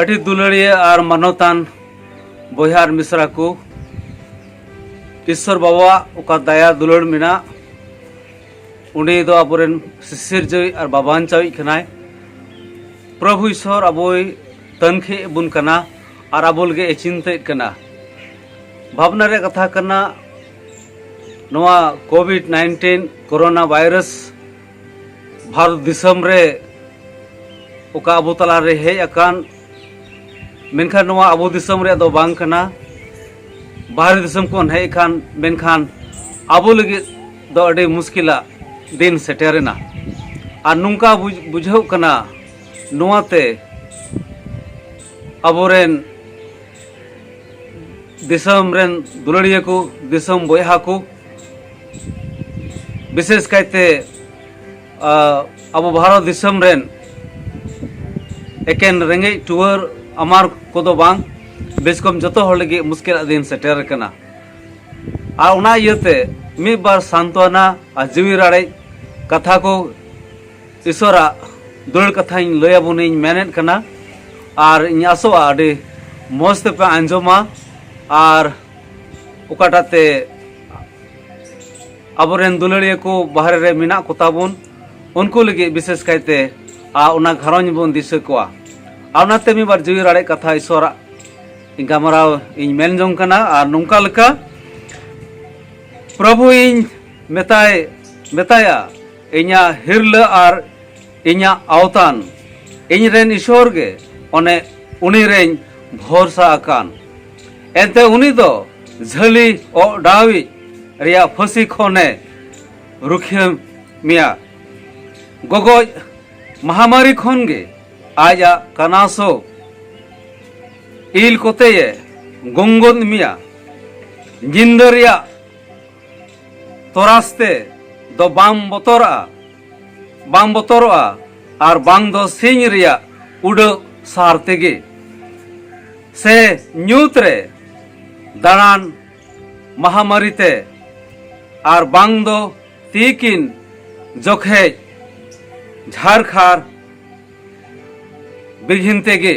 ᱟᱹᱰᱤ ᱫᱩᱞᱟᱹᱲᱤᱭᱟᱹ ᱟᱨ ᱢᱟᱱᱚᱛᱟᱱ ᱵᱚᱭᱦᱟ ᱟᱨ ᱢᱤᱥᱨᱟ ᱠᱚ ᱤᱥᱥᱚᱨ ᱵᱟᱵᱟᱣᱟᱜ ᱚᱠᱟ ᱫᱟᱭᱟ ᱫᱩᱞᱟᱹᱲ ᱢᱮᱱᱟᱜ ᱩᱱᱤ ᱫᱚ ᱟᱵᱚᱨᱮᱱ ᱥᱤᱥᱤᱨᱡᱟᱹᱣᱤᱡ ᱟᱨ ᱵᱟᱵᱟᱧᱪᱟᱣᱤᱡ ᱠᱟᱱᱟᱭ ᱯᱨᱚᱵᱷᱩ ᱤᱥᱥᱚᱨ ᱟᱵᱚᱭ ᱛᱟᱹᱱᱠᱷᱤ ᱵᱚᱱ ᱠᱟᱱᱟ ᱟᱨ ᱟᱵᱚ ᱞᱟᱹᱜᱤᱫ ᱮ ᱪᱤᱱᱛᱟᱹᱭᱮᱫ ᱠᱟᱱᱟ ᱵᱷᱟᱵᱽᱱᱟ ᱨᱮᱭᱟᱜ ᱠᱟᱛᱷᱟ ᱠᱟᱱᱟ ᱱᱚᱣᱟ ᱠᱳᱵᱷᱤᱰ ᱱᱟᱭᱤᱱᱴᱤᱱ ᱠᱳᱨᱳᱱᱟ ᱵᱷᱟᱭᱨᱟᱥ ᱵᱷᱟᱨᱚᱛ ᱫᱤᱥᱚᱢ ᱨᱮ ᱚᱠᱟ ᱟᱵᱚ ᱛᱟᱞᱟᱨᱮ ᱦᱮᱡ ᱟᱠᱟᱱ ᱢᱮᱱᱠᱷᱟᱱ ᱱᱚᱣᱟ ᱟᱵᱚ ᱫᱤᱥᱚᱢ ᱨᱮᱭᱟᱜ ᱫᱚ ᱵᱟᱝ ᱠᱟᱱᱟ ᱵᱟᱦᱨᱮ ᱫᱤᱥᱚᱢ ᱠᱷᱚᱱ ᱦᱮᱡ ᱟᱠᱟᱱ ᱢᱮᱱᱠᱷᱟᱱ ᱟᱵᱚ ᱞᱟᱹᱜᱤᱫ ᱫᱚ ᱟᱹᱰᱤ ᱢᱩᱥᱠᱤᱞᱟ ᱫᱤᱱ ᱥᱮᱴᱮᱨᱮᱱᱟ ᱟᱨ ᱱᱚᱝᱠᱟ ᱵᱩᱡᱷᱟᱹᱣ ᱠᱟᱱᱟ ᱱᱚᱣᱟᱛᱮ ᱟᱵᱚᱨᱮᱱ ᱫᱤᱥᱚᱢ ᱨᱮᱱ ᱫᱩᱞᱟᱹᱲᱤᱭᱟᱹ ᱠᱚ ᱫᱤᱥᱚᱢ ᱵᱚᱭᱦᱟ ᱠᱚ ᱵᱤᱥᱮᱥ ᱠᱟᱭᱛᱮ ᱟᱵᱚ ᱵᱷᱟᱨᱚᱛ ᱫᱤᱥᱚᱢ ᱨᱮᱱ ᱮᱠᱮᱱ ᱨᱮᱸᱜᱮᱡ ᱴᱩᱣᱟᱹᱨ ᱟᱢᱟᱨ ᱠᱚᱫᱚ ᱵᱟᱝ ᱵᱮᱥ ᱠᱚᱢ ᱡᱚᱛᱚ ᱦᱚᱲ ᱞᱟᱹᱜᱤᱫ ᱢᱩᱥᱠᱤᱞᱟᱜ ᱫᱤᱱ ᱥᱮᱴᱮᱨ ᱟᱠᱟᱱᱟ ᱟᱨ ᱚᱱᱟ ᱤᱭᱟᱹᱛᱮ ᱢᱤᱫ ᱵᱟᱨ ᱥᱟᱱᱛᱚᱱᱟ ᱟᱨ ᱡᱤᱣᱤ ᱨᱟᱲᱮᱡ ᱠᱟᱛᱷᱟ ᱠᱚ ᱤᱥᱚᱨᱟᱜ ᱫᱩᱞᱟᱹᱲ ᱠᱟᱛᱷᱟᱧ ᱞᱟᱹᱭ ᱟᱵᱚᱱᱤᱧ ᱢᱮᱱᱮᱫ ᱠᱟᱱᱟ ᱟᱨ ᱤᱧ ᱟᱥᱚᱜᱼᱟ ᱟᱹᱰᱤ ᱢᱚᱡᱽ ᱛᱮᱯᱮ ᱟᱸᱡᱚᱢᱟ ᱟᱨ ᱚᱠᱟᱴᱟᱜ ᱛᱮ ᱟᱵᱚᱨᱮᱱ ᱫᱩᱞᱟᱹᱲᱤᱭᱟᱹ ᱠᱚ ᱵᱟᱦᱨᱮ ᱨᱮ ᱢᱮᱱᱟᱜ ᱠᱚ ᱛᱟᱵᱚᱱ ᱩᱱᱠᱩ ᱞᱟᱹᱜᱤᱫ ᱵᱤᱥᱮᱥ ᱠᱟᱭᱛᱮ ᱟᱨ ᱚᱱᱟ ᱜᱷᱟᱨᱚᱸᱡᱽ ᱵᱚᱱ ᱫᱤᱥᱟᱹ ᱠᱚᱣᱟ ᱟᱨ ᱚᱱᱟᱛᱮ ᱢᱤᱫ ᱵᱟᱨ ᱡᱤᱣᱤ ᱨᱟᱲᱮᱡ ᱠᱟᱛᱷᱟ ᱤᱥᱚᱨᱟᱜ ᱜᱟᱢᱟᱨᱟᱣ ᱤᱧ ᱢᱮᱱ ᱡᱚᱝ ᱠᱟᱱᱟ ᱟᱨ ᱱᱚᱝᱠᱟ ᱞᱮᱠᱟ ᱯᱨᱚᱵᱷᱩ ᱤᱧ ᱢᱮᱛᱟᱭ ᱢᱮᱛᱟᱭᱟ ᱤᱧᱟᱹᱜ ᱦᱤᱨᱞᱟᱹ ᱟᱨ ᱤᱧᱟᱹᱜ ᱟᱣᱛᱟᱱ ᱤᱧ ᱨᱮᱱ ᱤᱥᱚᱨ ᱜᱮ ᱚᱱᱮ ᱩᱱᱤ ᱨᱮᱧ ᱵᱷᱚᱨᱥᱟ ᱟᱠᱟᱱ ᱮᱱᱛᱮ ᱩᱱᱤ ᱫᱚ ᱡᱷᱟᱹᱞᱤ ᱚᱰᱟᱣᱤᱡ ᱨᱮᱭᱟᱜ ᱯᱷᱟᱹᱥᱤ ᱠᱷᱚᱱᱮ ᱨᱩᱠᱷᱤᱭᱟᱹ ᱢᱮᱭᱟ ᱜᱚᱜᱚᱡ ᱢᱟᱦᱟᱢᱟᱨᱤ ᱠᱷᱚᱱ ᱜᱮ ᱟᱡᱟᱜ ᱠᱟᱱᱟᱥᱚ ᱤᱞ ᱠᱚᱛᱮᱭᱮ ᱜᱚᱝᱜᱚᱱ ᱢᱮᱭᱟ ᱧᱤᱫᱟᱹ ᱨᱮᱭᱟᱜ ᱛᱚᱨᱟᱥ ᱛᱮ ᱫᱚ ᱵᱟᱢ ᱵᱚᱛᱚᱨᱟᱜᱼᱟ ᱵᱟᱝ ᱵᱚᱛᱚᱨᱚᱜᱼᱟ ᱟᱨ ᱵᱟᱝ ᱫᱚ ᱥᱤᱧ ᱨᱮᱭᱟᱜ ᱩᱰᱟᱹᱜ ᱥᱟᱨ ᱛᱮᱜᱮ ᱥᱮ ᱧᱩᱛ ᱨᱮ ᱫᱟᱬᱟᱱ ᱢᱟᱦᱟᱢᱟᱹᱨᱤ ᱛᱮ ᱟᱨ ᱵᱟᱝ ᱫᱚ ᱛᱤᱠᱤᱱ ᱡᱚᱠᱷᱮᱡ ᱡᱷᱟᱨᱠᱷᱟᱨ ᱵᱤᱜᱷᱤᱱ ᱛᱮᱜᱮ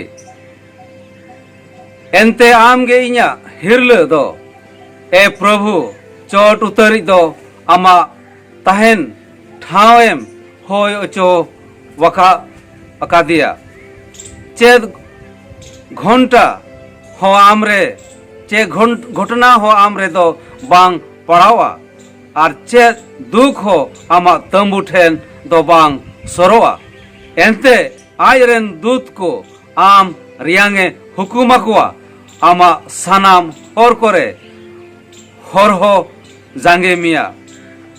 ᱮᱱᱛᱮ ᱟᱢᱜᱮ ᱤᱧᱟᱹᱜ ᱦᱤᱨᱞᱟᱹ ᱫᱚ ᱮ ᱯᱨᱚᱵᱷᱩ ᱪᱚᱴ ᱩᱛᱟᱹᱨᱤᱡ ᱫᱚ ᱟᱢᱟᱜ ᱛᱟᱦᱮᱱ ᱴᱷᱟᱶ ᱮᱢ ᱦᱳᱭ ᱚᱪᱚ ᱣᱟᱠᱟ ᱟᱠᱟᱫᱮᱭᱟ ᱪᱮᱫ ᱜᱷᱚᱱᱴᱟ ᱦᱚᱸ ᱟᱢ ᱨᱮ ᱪᱮ ᱜᱷᱚᱴᱚᱱᱟ ᱦᱚᱸ ᱟᱢ ᱨᱮᱫᱚ ᱵᱟᱝ ᱯᱟᱲᱟᱣᱟ ᱟᱨ ᱪᱮᱫ ᱫᱩᱠ ᱦᱚᱸ ᱟᱢᱟᱜ ᱛᱟᱹᱢᱵᱩ ᱴᱷᱮᱱ ᱫᱚ ᱵᱟᱝ ᱥᱚᱨᱚᱜᱼᱟ ᱮᱱᱛᱮ ᱟᱡ ᱨᱮᱱ ᱫᱩᱛ ᱠᱚ ᱟᱢ ᱨᱮᱭᱟᱝ ᱮ ᱦᱩᱠᱩᱢ ᱟᱠᱚᱣᱟ ᱟᱢᱟᱜ ᱥᱟᱱᱟᱢ ᱦᱚᱨ ᱠᱚᱨᱮ ᱦᱚᱨᱦᱚ ᱡᱟᱸᱜᱮ ᱢᱮᱭᱟ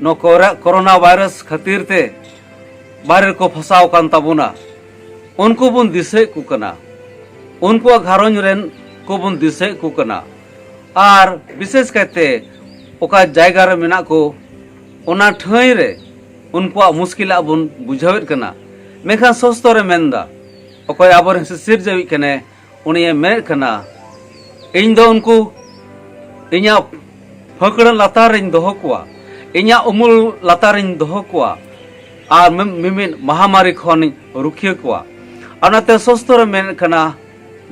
ᱱᱚᱣᱟ ᱠᱚᱨᱮ ᱠᱚᱨᱳᱱᱟ ᱵᱷᱟᱭᱨᱟᱥ ᱠᱷᱟᱹᱛᱤᱨ ᱛᱮ ᱵᱟᱨᱮ ᱠᱚ ᱯᱷᱟᱥᱟᱣ ᱠᱟᱱ ᱛᱟᱵᱚᱱᱟ ᱩᱱᱠᱩ ᱵᱚᱱ ᱫᱤᱥᱟᱹᱭᱮᱫ ᱠᱚ ᱠᱟᱱᱟ ᱩᱱᱠᱩᱣᱟᱜ ᱜᱷᱟᱨᱚᱸᱡᱽ ᱨᱮᱱ ᱠᱚ ᱵᱚᱱ ᱫᱤᱥᱟᱹᱭᱮᱫ ᱠᱚ ᱠᱟᱱᱟ ᱟᱨ ᱵᱤᱥᱮᱥ ᱠᱟᱭᱛᱮ ᱚᱠᱟ ᱡᱟᱭᱜᱟ ᱨᱮ ᱢᱮᱱᱟᱜ ᱠᱚ ᱚᱱᱟ ᱴᱷᱟᱹᱭ ᱨᱮ ᱩᱱᱠᱩᱣᱟᱜ ᱢᱩᱥᱠᱤᱞᱟᱜ ᱵᱚᱱ ᱵᱩᱡᱷᱟᱹᱣᱮᱫ ᱠᱟᱱᱟ ᱢᱮᱱᱠᱷᱟᱱ ᱥᱚᱥᱛᱚ ᱨᱮ ᱢᱮᱱᱫᱟ ᱚᱠᱚᱭ ᱟᱵᱚᱨᱮᱱ ᱥᱤᱥᱤᱨᱡᱟᱹᱣᱤᱡ ᱠᱟᱱᱟᱭ ᱩᱱᱤᱭᱮ ᱢᱮᱱᱮᱫ ᱠᱟᱱᱟ ᱤᱧ ᱫᱚ ᱩᱱᱠᱩ ᱤᱧᱟᱹᱜ ᱯᱷᱟᱹᱠᱲᱟᱹ ᱞᱟᱛᱟᱨ ᱨᱤᱧ ᱫᱚᱦᱚ ᱠᱚᱣᱟ ᱤᱧᱟᱹᱜ ᱩᱢᱩᱞ ᱞᱟᱛᱟᱨ ᱨᱤᱧ ᱫᱚᱦᱚ ᱠᱚᱣᱟ ᱟᱨ ᱢᱤᱢᱤᱫ ᱢᱟᱦᱟᱢᱟᱨᱤ ᱠᱷᱚᱱᱤᱧ ᱨᱩᱠᱷᱤᱭᱟᱹ ᱠᱚᱣᱟ ᱟᱨ ᱚᱱᱟᱛᱮ ᱥᱚᱥᱛᱚ ᱨᱮ ᱢᱮᱱᱮᱫ ᱠᱟᱱᱟ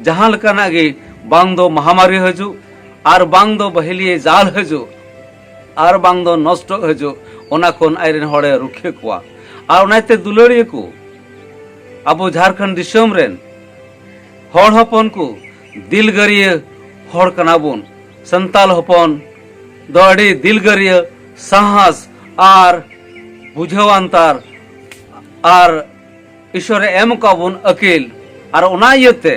ᱡᱟᱦᱟᱸ ᱞᱮᱠᱟᱱᱟᱜ ᱜᱮ ᱵᱟᱝ ᱫᱚ ᱢᱟᱦᱟᱢᱟᱨᱤ ᱦᱤᱡᱩᱜ ᱟᱨ ᱵᱟᱝ ᱫᱚ ᱵᱟᱹᱦᱤᱞᱤᱭᱮ ᱡᱟᱞ ᱦᱤᱡᱩᱜ ᱟᱨ ᱵᱟᱝ ᱫᱚ ᱱᱚᱥᱴᱚ ᱦᱤᱡᱩᱜ ᱚᱱᱟ ᱠᱷᱚᱱ ᱟᱡ ᱨᱮᱱ ᱦᱚᱲᱮ ᱨᱩᱠᱷᱤᱭᱟᱹ ᱠᱚᱣᱟ ᱟᱨ ᱚᱱᱟᱛᱮ ᱫᱩᱞᱟᱹᱲᱤᱭᱟᱹ ᱠᱚ ᱟᱵᱚ ᱡᱷᱟᱨᱠᱷᱚᱸᱰ ᱫᱤᱥᱚᱢ ᱨᱮᱱ ᱦᱚᱲ ᱦᱚᱯᱚᱱ ᱠᱚ ᱫᱤᱞᱜᱟᱹᱨᱤᱭᱟᱹ ᱦᱚᱲ ᱠᱟᱱᱟ ᱵᱚᱱ ᱥᱟᱱᱛᱟᱞ ᱦᱚᱯᱚᱱ ᱫᱚ ᱟᱹᱰᱤ ᱫᱤᱞᱜᱟᱹᱨᱤᱭᱟᱹ ᱥᱟᱦᱟᱥ ᱟᱨ ᱵᱩᱡᱷᱟᱹᱣᱟᱱᱛᱟᱨ ᱟᱨ ᱤᱥᱚᱨ ᱮᱢ ᱠᱟ ᱵᱚᱱ ᱟᱹᱠᱤᱞ ᱟᱨ ᱚᱱᱟ ᱤᱭᱟᱹᱛᱮ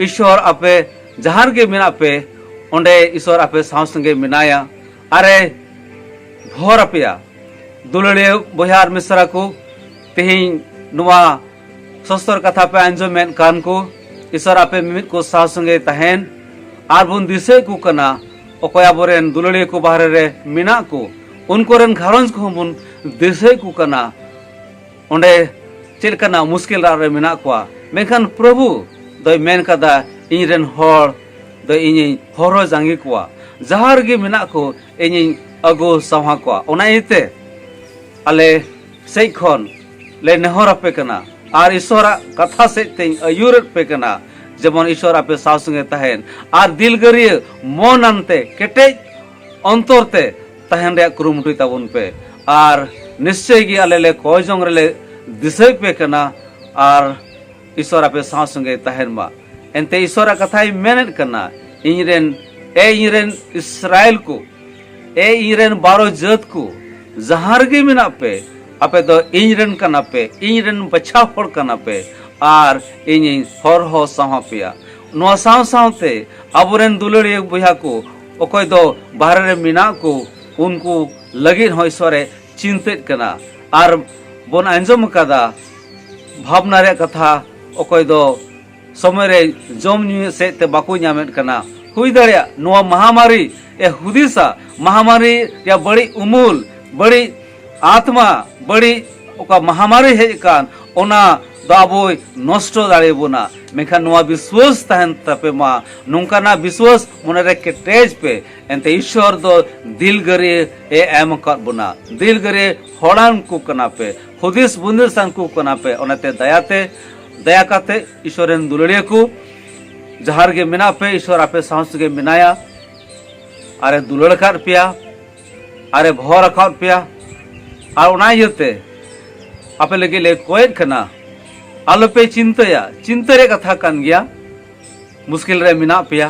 ᱤᱥᱚᱨ ᱟᱯᱮ ᱡᱟᱦᱟᱸ ᱨᱮᱜᱮ ᱢᱮᱱᱟᱜ ᱯᱮ ᱚᱸᱰᱮ ᱤᱥᱚᱨ ᱟᱯᱮ ᱥᱟᱶ ᱥᱚᱸᱜᱮ ᱢᱮᱱᱟᱭᱟ ᱟᱨᱮ ᱵᱷᱚᱨ ᱟᱯᱮᱭᱟ ᱫᱩᱞᱟᱹᱲᱤᱭᱟᱹ ᱵᱚᱭᱦᱟ ᱟᱨ ᱢᱤᱥᱨᱟ ᱠᱚ ᱛᱮᱦᱮᱧ ᱱᱚᱣᱟ ᱥᱚᱥᱛᱚᱨ ᱠᱟᱛᱷᱟ ᱯᱮ ᱟᱸᱡᱚᱢᱮᱫ ᱠᱟᱱ ᱠᱚ ᱤᱥᱚᱨ ᱟᱯᱮ ᱢᱤᱢᱤᱫ ᱠᱚ ᱥᱟᱶ ᱥᱚᱸᱜᱮ ᱛᱟᱦᱮᱱ ᱟᱨ ᱵᱚᱱ ᱫᱤᱥᱟᱹᱭ ᱠᱚ ᱠᱟᱱᱟ ᱚᱠᱚᱭ ᱟᱵᱚᱨᱮᱱ ᱫᱩᱞᱟᱹᱲᱤᱭᱟᱹ ᱠᱚ ᱵᱟᱦᱨᱮ ᱨᱮ ᱢᱮᱱᱟᱜ ᱠᱚ ᱩᱱᱠᱩ ᱨᱮᱱ ᱜᱷᱟᱨᱚᱸᱡᱽ ᱠᱚᱦᱚᱸ ᱵᱚᱱ ᱫᱤᱥᱟᱹᱭ ᱠᱚ ᱠᱟᱱᱟ ᱚᱸᱰᱮ ᱪᱮᱫ ᱞᱮᱠᱟᱱᱟᱜ ᱢᱩᱥᱠᱤᱞ ᱨᱟᱜ ᱨᱮ ᱢᱮᱱᱟᱜ ᱠᱚᱣᱟ ᱢᱮᱱᱠᱷᱟᱱ ᱯᱨᱚᱵᱷᱩ ᱫᱚᱭ ᱢᱮᱱ ᱠᱟᱫᱟ ᱤᱧ ᱨᱮᱱ ᱦᱚᱲ ᱫᱚ ᱤᱧᱤᱧ ᱦᱚᱨᱚ ᱡᱟᱸᱜᱮ ᱠᱚᱣᱟ ᱡᱟᱦᱟᱸ ᱨᱮᱜᱮ ᱢᱮᱱᱟᱜ ᱠᱚ ᱤᱧᱤᱧ ᱟᱹᱜᱩ ᱥᱟᱶᱟ ᱠᱚᱣᱟ ᱚᱱᱟ ᱤᱭᱟᱹᱛᱮ ᱟᱞᱮ ᱥᱮᱡ ᱠᱷᱚᱱ ᱞᱮ ᱱᱮᱦᱚᱨ ᱟᱯᱮ ᱠᱟᱱᱟ ᱟᱨ ᱤᱥᱚᱨᱟᱜ ᱠᱟᱛᱷᱟ ᱥᱮᱡ ᱛᱮᱧ ᱟᱹᱭᱩᱨᱮᱫ ᱯᱮ ᱠᱟᱱᱟ ᱡᱮᱢᱚᱱ ᱤᱥᱚᱨ ᱟᱯᱮ ᱥᱟᱶ ᱥᱚᱸᱜᱮ ᱛᱟᱦᱮᱱ ᱟᱨ ᱫᱤᱞᱜᱟᱹᱨᱤᱭᱟᱹ ᱢᱚᱱ ᱟᱱᱛᱮ ᱠᱮᱴᱮᱡ ᱚᱱᱛᱚᱨ ᱛᱮ ᱛᱟᱦᱮᱱ ᱨᱮᱭᱟᱜ ᱠᱩᱨᱩᱢᱩᱴᱩᱭ ᱛᱟᱵᱚᱱ ᱯᱮ ᱟᱨ ᱱᱤᱥᱪᱚᱭ ᱜᱮ ᱟᱞᱮ ᱞᱮ ᱠᱚᱭ ᱡᱚᱝ ᱨᱮᱞᱮ ᱫᱤᱥᱟᱹᱭ ᱯᱮ ᱠᱟᱱᱟ ᱟᱨ ᱤᱥᱚᱨ ᱟᱯᱮ ᱥᱟᱶ ᱥᱚᱸᱜᱮ ᱛᱟᱦᱮᱱ ᱢᱟ ᱮᱱᱛᱮ ᱤᱥᱚᱨᱟᱜ ᱠᱟᱛᱷᱟᱭ ᱢᱮᱱᱮᱫ ᱠᱟᱱᱟ ᱤᱧ ᱨᱮᱱ ᱮ ᱤᱧ ᱨᱮᱱ ᱤᱥᱨᱟᱭᱮᱞ ᱠᱚ ᱮ ᱤᱧ ᱨᱮᱱ ᱵᱟᱨᱚ ᱡᱟᱹᱛ ᱠᱚ ᱡᱟᱦᱟᱸ ᱨᱮᱜᱮ ᱢᱮᱱᱟᱜ ᱯᱮ ᱟᱯᱮ ᱫᱚ ᱤᱧ ᱨᱮᱱ ᱠᱟᱱᱟ ᱯᱮ ᱤᱧ ᱨᱮᱱ ᱵᱟᱪᱷᱟᱣ ᱦᱚᱲ ᱠᱟᱱᱟ ᱯᱮ ᱟᱨ ᱤᱧᱤᱧ ᱦᱚᱨᱦᱚ ᱥᱟᱶ ᱯᱮᱭᱟ ᱱᱚᱣᱟ ᱥᱟᱶ ᱥᱟᱶᱛᱮ ᱟᱵᱚᱨᱮᱱ ᱫᱩᱞᱟᱹᱲᱤᱭᱟᱹ ᱵᱚᱭᱦᱟ ᱠᱚ ᱚᱠᱚᱭ ᱫᱚ ᱵᱟᱦᱨᱮ ᱨᱮ ᱢᱮᱱᱟᱜ ᱠᱚ ᱩᱱᱠᱩ ᱞᱟᱹᱜᱤᱫ ᱦᱚᱸ ᱤᱥᱚᱨᱮ ᱪᱤᱱᱛᱟᱹᱜ ᱠᱟᱱᱟ ᱟᱨ ᱵᱚᱱ ᱟᱸᱡᱚᱢ ᱟᱠᱟᱫᱟ ᱵᱷᱟᱵᱽᱱᱟ ᱨᱮᱭᱟᱜ ᱠᱟᱛᱷᱟ ᱚᱠᱚᱭ ᱫᱚ ᱥᱚᱢᱚᱭ ᱨᱮ ᱡᱚᱢ ᱧᱩ ᱥᱮᱫ ᱛᱮ ᱵᱟᱠᱚ ᱧᱟᱢᱮᱫ ᱠᱟᱱᱟ ᱦᱩᱭ ᱫᱟᱲᱮᱭᱟᱜ ᱱᱚᱣᱟ ᱢᱟᱦᱟᱢᱟᱨᱤ ᱮ ᱦᱩᱫᱤᱥᱟ ᱢᱟᱦᱟᱢᱟᱨᱤ ᱨᱮᱭᱟᱜ ᱵᱟᱹᱲᱤᱡ ᱩᱢᱩᱞ ᱵᱟᱹᱲᱤᱡ ᱟᱛᱢᱟ ᱵᱟᱹᱲᱤᱡ ᱚᱠᱟ ᱢᱟᱦᱟᱢᱟᱨᱤ ᱦᱮᱡ ᱟᱠᱟᱱ ᱚᱱᱟ ᱫᱚ ᱟᱵᱚᱭ ᱱᱚᱥᱴᱚ ᱫᱟᱲᱮ ᱵᱚᱱᱟ ᱢᱮᱱᱠᱷᱟᱱ ᱱᱚᱣᱟ ᱵᱤᱥᱣᱟᱥ ᱛᱟᱦᱮᱱ ᱛᱟᱯᱮ ᱢᱟ ᱱᱚᱝᱠᱟᱱᱟᱜ ᱵᱤᱥᱣᱟᱥ ᱢᱚᱱᱮᱨᱮ ᱠᱮᱴᱮᱡ ᱯᱮ ᱮᱱᱛᱮ ᱤᱥᱣᱚᱨ ᱫᱚ ᱫᱤᱞᱜᱟᱹᱨᱤ ᱮ ᱮᱢ ᱟᱠᱟᱫ ᱵᱚᱱᱟ ᱫᱤᱞᱜᱟᱹᱨᱤ ᱦᱚᱲᱟᱱ ᱠᱚ ᱠᱟᱱᱟ ᱯᱮ ᱦᱩᱫᱤᱥ ᱵᱩᱱᱫᱤᱥᱟᱱ ᱠᱚ ᱠᱟᱱᱟ ᱯᱮ ᱚᱱᱟᱛᱮ ᱫᱟᱭᱟᱛᱮ ᱫᱟᱭᱟ ᱠᱟᱛᱮ ᱤᱥᱚᱨ ᱨᱮᱱ ᱫᱩᱞᱟᱹᱲᱤᱭᱟᱹ ᱠᱚ ᱡᱟᱦᱟᱸ ᱨᱮᱜᱮ ᱢᱮᱱᱟᱜ ᱯᱮ ᱤᱥᱚᱨ ᱟᱯᱮ ᱥᱟᱶ ᱥᱟᱶᱜᱮ ᱢᱮᱱᱟᱭᱟ ᱟᱨᱮ ᱫᱩᱞᱟᱹᱲ ᱟᱠᱟᱫ ᱯᱮᱭᱟ ᱟᱨᱮ ᱵᱷᱚᱨ ᱟᱠᱟᱫ ᱯᱮᱭᱟ ᱟᱨ ᱚᱱᱟ ᱤᱭᱟᱹᱛᱮ ᱟᱯᱮ ᱞᱟᱹᱜᱤᱫ ᱞᱮ ᱠᱚᱭᱮᱫ ᱠᱟᱱᱟ ᱟᱞᱚᱯᱮ ᱪᱤᱱᱛᱟᱹᱭᱟ ᱪᱤᱱᱛᱟᱹ ᱨᱮᱭᱟᱜ ᱠᱟᱛᱷᱟ ᱠᱟᱱ ᱜᱮᱭᱟ ᱢᱩᱥᱠᱤᱞ ᱨᱮ ᱢᱮᱱᱟᱜ ᱯᱮᱭᱟ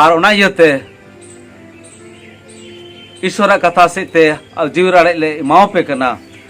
ᱟᱨ ᱚᱱᱟ ᱤᱭᱟᱹᱛᱮ ᱤᱥᱚᱨᱟᱜ ᱠᱟᱛᱷᱟ ᱥᱮᱫ ᱛᱮ ᱡᱤᱣᱤ ᱨᱟᱲᱮᱡ ᱞᱮ ᱮᱢᱟᱣᱟᱯᱮ ᱠᱟᱱᱟ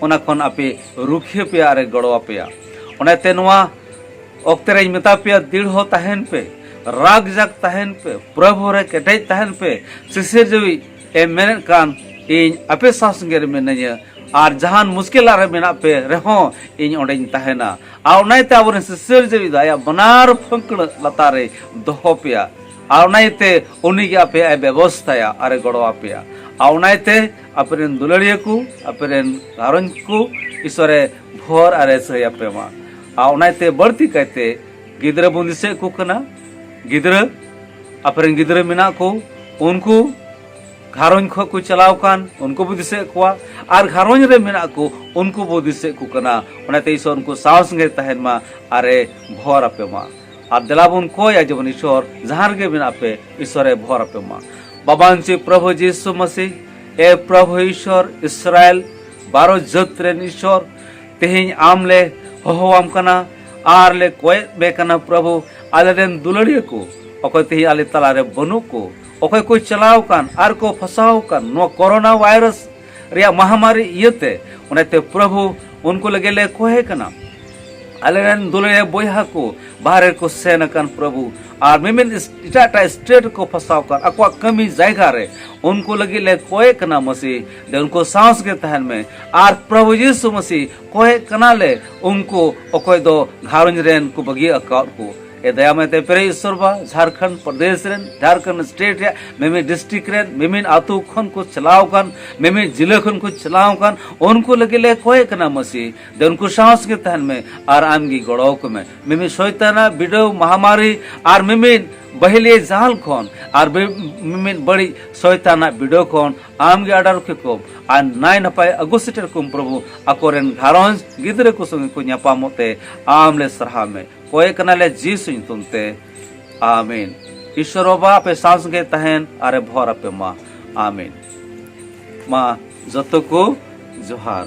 ᱚᱱᱟ ᱠᱷᱚᱱ ᱟᱯᱮ ᱨᱩᱠᱷᱤᱭᱟᱹ ᱯᱮᱭᱟ ᱟᱨᱮ ᱜᱚᱲᱚ ᱟᱯᱮᱭᱟ ᱚᱱᱟᱛᱮ ᱱᱚᱣᱟ ᱚᱠᱛᱮ ᱨᱮᱧ ᱢᱮᱛᱟ ᱯᱮᱭᱟ ᱫᱤᱲᱦᱚ ᱛᱟᱦᱮᱱ ᱯᱮ ᱨᱟᱜᱽ ᱡᱟᱜᱽ ᱛᱟᱦᱮᱱ ᱯᱮ ᱯᱨᱚᱵᱷᱩ ᱨᱮ ᱠᱮᱴᱮᱡ ᱛᱟᱦᱮᱱ ᱯᱮ ᱥᱤᱥᱤᱨ ᱡᱟᱹᱣᱤᱡ ᱮ ᱢᱮᱱᱮᱫ ᱠᱟᱱ ᱤᱧ ᱟᱯᱮ ᱥᱟᱶ ᱥᱚᱸᱜᱮ ᱨᱮ ᱢᱤᱱᱟᱹᱧᱟ ᱟᱨ ᱡᱟᱦᱟᱱ ᱢᱩᱥᱠᱤᱞᱟ ᱨᱮ ᱢᱮᱱᱟᱜ ᱯᱮ ᱨᱮᱦᱚᱸ ᱤᱧ ᱚᱸᱰᱮᱧ ᱛᱟᱦᱮᱱᱟ ᱟᱨ ᱚᱱᱟᱛᱮ ᱟᱵᱚᱨᱮᱱ ᱥᱤᱥᱤᱨ ᱡᱟᱹᱣᱤ ᱫᱚ ᱟᱭᱟᱜ ᱵᱟᱱᱟᱨ ᱯᱷᱟᱹᱠᱲᱟᱹ ᱞᱟᱛᱟᱨ ᱨᱮ ᱫᱚᱦᱚ ᱯᱮᱭᱟ ᱟᱨ ᱚᱱᱟᱛᱮ ᱩᱱᱤᱜᱮ ᱟᱯᱮᱭᱟᱜ ᱮ ᱵᱮᱵᱚᱥᱛᱷᱟᱭᱟ ᱟᱨᱮ ᱜᱚᱲᱚ ᱟᱯᱮᱭᱟ ᱟᱨ ᱚᱱᱟᱛᱮ ᱟᱯᱮ ᱨᱮᱱ ᱫᱩᱞᱟᱹᱲᱤᱭᱟᱹ ᱠᱚ ᱟᱯᱮ ᱨᱮᱱ ᱜᱷᱟᱨᱚᱸᱡᱽ ᱠᱚ ᱤᱥᱚᱨᱮ ᱵᱷᱚᱨ ᱟᱨ ᱮᱥᱟᱹᱭ ᱟᱯᱮ ᱢᱟ ᱟᱨ ᱚᱱᱟᱛᱮ ᱵᱟᱹᱲᱛᱤ ᱠᱟᱭᱛᱮ ᱜᱤᱫᱽᱨᱟᱹ ᱵᱚᱱ ᱫᱤᱥᱟᱹᱭᱮᱫ ᱠᱚ ᱠᱟᱱᱟ ᱜᱤᱫᱽᱨᱟᱹ ᱟᱯᱮ ᱨᱮᱱ ᱜᱤᱫᱽᱨᱟᱹ ᱢᱮᱱᱟᱜ ᱠᱚ ᱩᱱᱠᱩ ᱜᱷᱟᱨᱚᱸᱡᱽ ᱠᱷᱚᱱ ᱠᱚ ᱪᱟᱞᱟᱣ ᱠᱟᱱ ᱩᱱᱠᱩ ᱵᱚ ᱫᱤᱥᱟᱹᱭᱮᱫ ᱠᱚᱣᱟ ᱟᱨ ᱜᱷᱟᱨᱚᱸᱡᱽ ᱨᱮ ᱢᱮᱱᱟᱜ ᱠᱚ ᱩᱱᱠᱩ ᱵᱚ ᱫᱤᱥᱟᱹᱭᱮᱫ ᱠᱚ ᱠᱟᱱᱟ ᱚᱱᱟᱛᱮ ᱤᱥᱚᱨ ᱩᱱᱠᱩ ᱥᱟᱶ ᱥᱚᱸᱜᱮ ᱛᱟᱦᱮᱱ ᱢᱟ ᱟᱨᱮ ᱵᱷᱚᱨ ᱟᱯᱮ ᱢᱟ ᱟᱨ ᱫᱮᱞᱟ ᱵᱚᱱ ᱠᱚᱭᱟ ᱡᱮᱢᱚᱱ ᱤᱥᱚᱨ ᱡᱟᱦᱟᱸ ᱨᱮᱜᱮ ᱢᱮᱱᱟᱜ ᱯᱮ ᱤᱥᱚᱨᱮ ᱵᱷᱚᱨ ᱟᱯᱮ ᱢᱟ ᱵᱟᱵᱟᱱ ᱪᱮ ᱯᱨᱚᱵᱷᱩ ᱡᱤᱥᱩ ᱢᱟᱥᱤ ᱮ ᱯᱨᱚᱵᱷᱩ ᱤᱥᱚᱨ ᱤᱥᱨᱟᱭᱮᱞ ᱵᱟᱨᱚ ᱡᱟᱹᱛ ᱨᱮᱱ ᱤᱥᱚᱨ ᱛᱮᱦᱮᱧ ᱟᱢ ᱞᱮ ᱦᱚᱦᱚᱣᱟᱢ ᱠᱟᱱᱟ ᱟᱨ ᱞᱮ ᱠᱚᱭᱮᱫ ᱢᱮ ᱠᱟᱱᱟ ᱯᱨᱚᱵᱷᱩ ᱟᱞᱮ ᱨᱮᱱ ᱫᱩᱞᱟᱹᱲᱤᱭᱟᱹ ᱠᱚ ᱚᱠᱚᱭ ᱛᱮᱦᱮᱧ ᱟᱞᱮ ᱛᱟᱞᱟᱨᱮ ᱵᱟᱹᱱᱩᱜ ᱠᱚ ᱚᱠᱚᱭ ᱠᱚ ᱪᱟᱞᱟᱣ ᱠᱟᱱ ᱟᱨ ᱠᱚ ᱯᱷᱟᱥᱟᱣ ᱠᱟᱱ ᱱᱚᱣᱟ ᱠᱚᱨᱳᱱᱟ ᱵᱷᱟᱭᱨᱟᱥ ᱨᱮᱭᱟᱜ ᱢᱟᱦᱟᱢᱟᱨᱤ ᱤᱭᱟᱹᱛᱮ ᱚᱱᱟᱛᱮ ᱯᱨᱚᱵᱷᱩ ᱩᱱᱠᱩ ᱞᱟᱹᱜᱤᱫ ᱞᱮ ᱠᱚᱦᱮ ᱠᱟᱱᱟ ᱟᱞᱮᱨᱮᱱ ᱫᱩᱞᱟᱹᱲᱤᱭᱟᱹ ᱵᱚᱭᱦᱟ ᱠᱚ ᱵᱟᱦᱨᱮ ᱠᱚ ᱥᱮᱱ ᱟᱠᱟᱱ ᱯᱨᱚᱵᱷᱩ ᱟᱨ ᱢᱤᱢᱤᱫ ᱮᱴᱟᱜ ᱮᱴᱟᱜ ᱥᱴᱮᱴ ᱠᱚ ᱯᱷᱟᱥᱟᱣ ᱟᱠᱟᱱ ᱟᱠᱚᱣᱟᱜ ᱠᱟᱹᱢᱤ ᱡᱟᱭᱜᱟ ᱨᱮ ᱩᱱᱠᱩ ᱞᱟᱹᱜᱤᱫ ᱞᱮ ᱠᱚᱭᱮ ᱠᱟᱱᱟ ᱢᱟᱹᱥᱤ ᱫᱮ ᱩᱱᱠᱩ ᱥᱟᱶᱥ ᱜᱮ ᱛᱟᱦᱮᱱ ᱢᱮ ᱟᱨ ᱯᱨᱚᱵᱷᱩ ᱡᱤᱥᱩ ᱢᱟᱹᱥᱤ ᱠᱚᱭᱮ ᱠᱟᱱᱟ ᱞᱮ ᱩᱱᱠᱩ ᱚᱠᱚᱭ ᱫᱚ ᱜᱷᱟᱨᱚᱸᱡᱽ ᱨᱮᱱ ᱠᱚ ᱵᱟᱹᱜᱤ ᱟᱠᱟᱫ ᱠᱚ ᱮ ᱫᱟᱭᱟᱢᱮ ᱛᱮ ᱯᱮᱨᱮ ᱤᱥᱚᱨ ᱵᱟ ᱡᱷᱟᱨᱠᱷᱚᱸᱰ ᱯᱨᱚᱫᱮᱥ ᱨᱮᱱ ᱡᱷᱟᱨᱠᱷᱚᱸᱰ ᱥᱴᱮᱴ ᱨᱮ ᱢᱮᱢᱮ ᱰᱤᱥᱴᱨᱤᱠᱴ ᱨᱮᱱ ᱢᱮᱢᱮ ᱟᱛᱳ ᱠᱷᱚᱱ ᱠᱚ ᱪᱟᱞᱟᱣ ᱠᱟᱱ ᱢᱮᱢᱮ ᱡᱤᱞᱟᱹ ᱠᱷᱚᱱ ᱠᱚ ᱪᱟᱞᱟᱣ ᱠᱟᱱ ᱩᱱᱠᱩ ᱞᱟᱹᱜᱤᱫ ᱞᱮ ᱠᱚᱭ ᱠᱟᱱᱟ ᱢᱟᱹᱥᱤ ᱫᱮ ᱩᱱᱠᱩ ᱥᱟᱶ ᱜᱮ ᱛᱟᱦᱮᱱ ᱢᱮ ᱟᱨ ᱟᱢ ᱜᱮ ᱜᱚᱲᱚ ᱟᱠᱚ ᱢᱮ ᱢᱮᱢᱮ ᱥᱚᱭᱛᱟᱱᱟ ᱵᱤᱰᱟᱹᱣ ᱢᱟᱦᱟᱢᱟᱨᱤ ᱟᱨ ᱢᱮᱢᱮ ᱵᱟᱹᱦᱤᱞᱤᱭᱟᱹ ᱡᱟᱞ ᱠᱷᱚᱱ ᱟᱨ ᱢᱤᱢᱤᱫ ᱵᱟᱹᱲᱤᱡ ᱥᱚᱭᱛᱟᱱᱟᱜ ᱵᱤᱰᱟᱹᱣ ᱠᱷᱚᱱ ᱟᱢ ᱜᱮ ᱟᱰᱟᱨ ᱠᱮᱠᱚ ᱟᱨ ᱱᱟᱭ ᱱᱟᱯᱟᱭ ᱟᱹᱜᱩ ᱥᱮᱴᱮᱨ ᱠᱚᱢ ᱯᱨᱚᱵᱷᱩ ᱟᱠᱚᱨᱮᱱ ᱜᱷᱟᱨᱚᱸᱡᱽ ᱜᱤᱫᱽᱨᱟᱹ ᱠᱚ ᱥᱚᱸᱜᱮ ᱠᱚ ᱧᱟᱯᱟᱢᱚᱜ ᱛᱮ ᱟᱢ ᱞᱮ ᱥᱟᱨᱦᱟᱣ ᱢᱮ ᱠᱚᱭᱮ ᱠᱟᱱᱟᱞᱮ ᱡᱤᱥᱩ ᱧᱩᱛᱩᱢ ᱛᱮ ᱟᱢᱤᱱ ᱤᱥᱚᱨ ᱵᱟᱵᱟ ᱟᱯᱮ ᱥᱟᱶ ᱥᱚᱸᱜᱮ ᱛᱟᱦᱮᱱ ᱟᱨᱮ ᱵᱷᱚᱨ ᱟᱯᱮ ᱢᱟ ᱟᱢᱤᱱ ᱢᱟ ᱡᱚᱛᱚ ᱠᱚ ᱡᱚᱦᱟᱨ